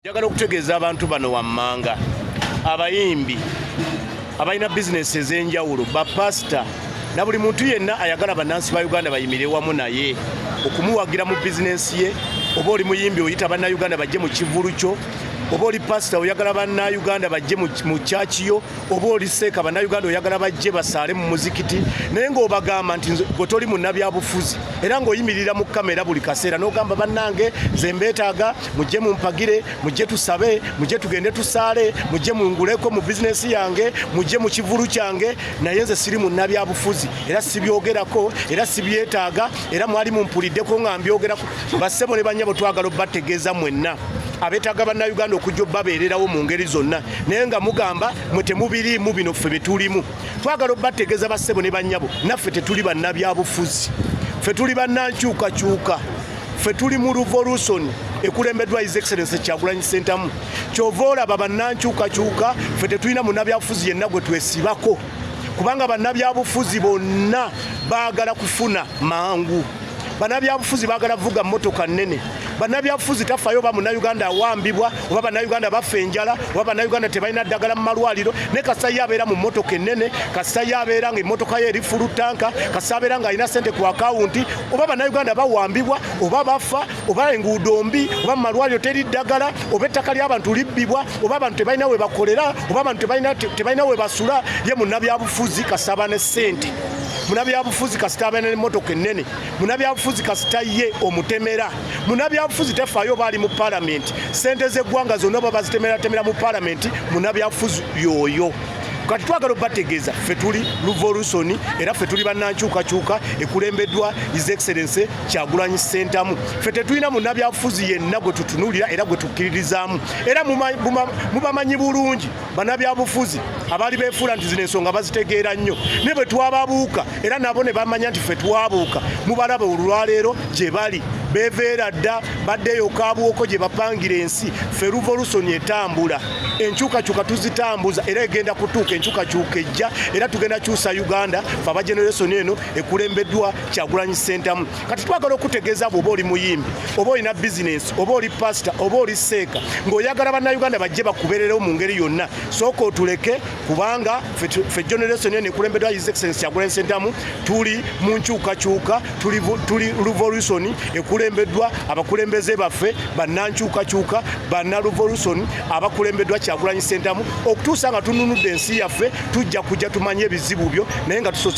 Njagala okutegeeza abantu bano wammanga, abayimbi abalina bizinesi ez'enjawulo, bapasita na buli muntu yenna ayagala bannansi ba Uganda bayimire wamu naye okumuwagira mu bizinesi ye. Oba oli muyimbi oyita bannayuganda bajje mu kivulu kyo, oba oli pasita oyagala bannayuganda bajje mu kyaki yo, oba oli seeka bannayuganda oyagala bajje basaale mu muzikiti, naye ng'obagamba nti gwe toli munnabyabufuzi era ng'oyimirira mu kamera buli kaseera n'ogamba bannange nze mbeetaaga. mujje mumpagire mujje tusabe mujje tugende tusaale mujje munguleko mu bizinesi yange mujje mu kivulu kyange naye nze siri munnabyabufuzi era sibyogerako era sibyetaaga era mwali mumpuliddeko nga mbyogerako bassebo ne banyabo twagala obategeeza mwenna abetaaga bannayuganda okujja obabeererawo mu ngeri zonna naye nga mugamba mwe temubiriimu bino ffe bye tulimu twagala obategeeza bassebo ne banyabo naffe tetuli bannabyabufuzi ffe tuli bannankyukakyuka ffe tuli mu revolution ekulembeddwa his excellence kyagulanyi sentamu kyova olaba bannankyukakyuka ffe tetulina munabyabufuzi yenna gwe twesibako kubanga bannabyabufuzi bonna baagala kufuna mangu bannabyabufuzi baagala vuga motoka nnene bannabyabufuzi tafayo oba munauganda awambibwa oba bannayuganda bafa enjala oba bannayuganda tebalina ddagala mu malwaliro ne kasayi abeera mu motoka ennene kasayi abeera nga emotoka ye eri fulu tanka kasayi abeera ng'alina sente ku akawunti oba bannayuganda bawambibwa oba bafa oba enguudo mbi oba mumalwaliro teri ddagala oba ettaka ly'abantu libbibwa oba abantu tebalina we bakolera oba abantu tebalina we basula ye munnabyabufuzi kasaba ne ssente munabyabufuzi kasita abeera nemotoka ennene munabyabufuzi kasita ye omutemera munabyabufuzi tefaayo oba ali mu palamenti sente z'eggwanga zonna oba bazitemeraatemera mu palamenti munabyabufuzi yooyo kati twagala obategeeza ffe tuli luvolusoni era ffe tuli bannankyukakyuka ekulembeddwa his excellence kyagulanyi ssentamu ffe tetulina munabyabufuzi yenna gwe tutunuulira era gwe tukkiririzaamu era mubamanyi bulungi banabyabufuzi abaali beefuula nti zino ensonga bazitegeera nnyo naye bwe twababuuka era nabo ne bamanya nti ffe twabuuka mubalaba olwaleero gye bali beveera dda baddeyo kabuwoko gye bapangira ensi ffe luvolusoni etambula enkyukakyuka tuzitambuza era egenda kutuuka enkyukakyuka ejja era tugenda kyusa uganda fe aba generation eno ekulembeddwa kyagulanyi sentamu kati twagala okutegeeza bwoba oli muyimbi oba olina bizinensi oba oli pasita oba oli seeka ng'oyagala bannauganda bajje bakubererewo mu ngeri yonna sooka otuleke kubanga fe generation eno ekulembeddwa his excellence kyagulanyi sentamu tuli mu nkyukakyuka tuli revolution ekulembeddwa abakulembeze baffe bannankyukakyuka banna revolution abakulembeddwa kyagulanyi sentamu okutuusa nga tununudde ensi yaffe tujja kujja tumanye ebizibu byo naye nga tusoose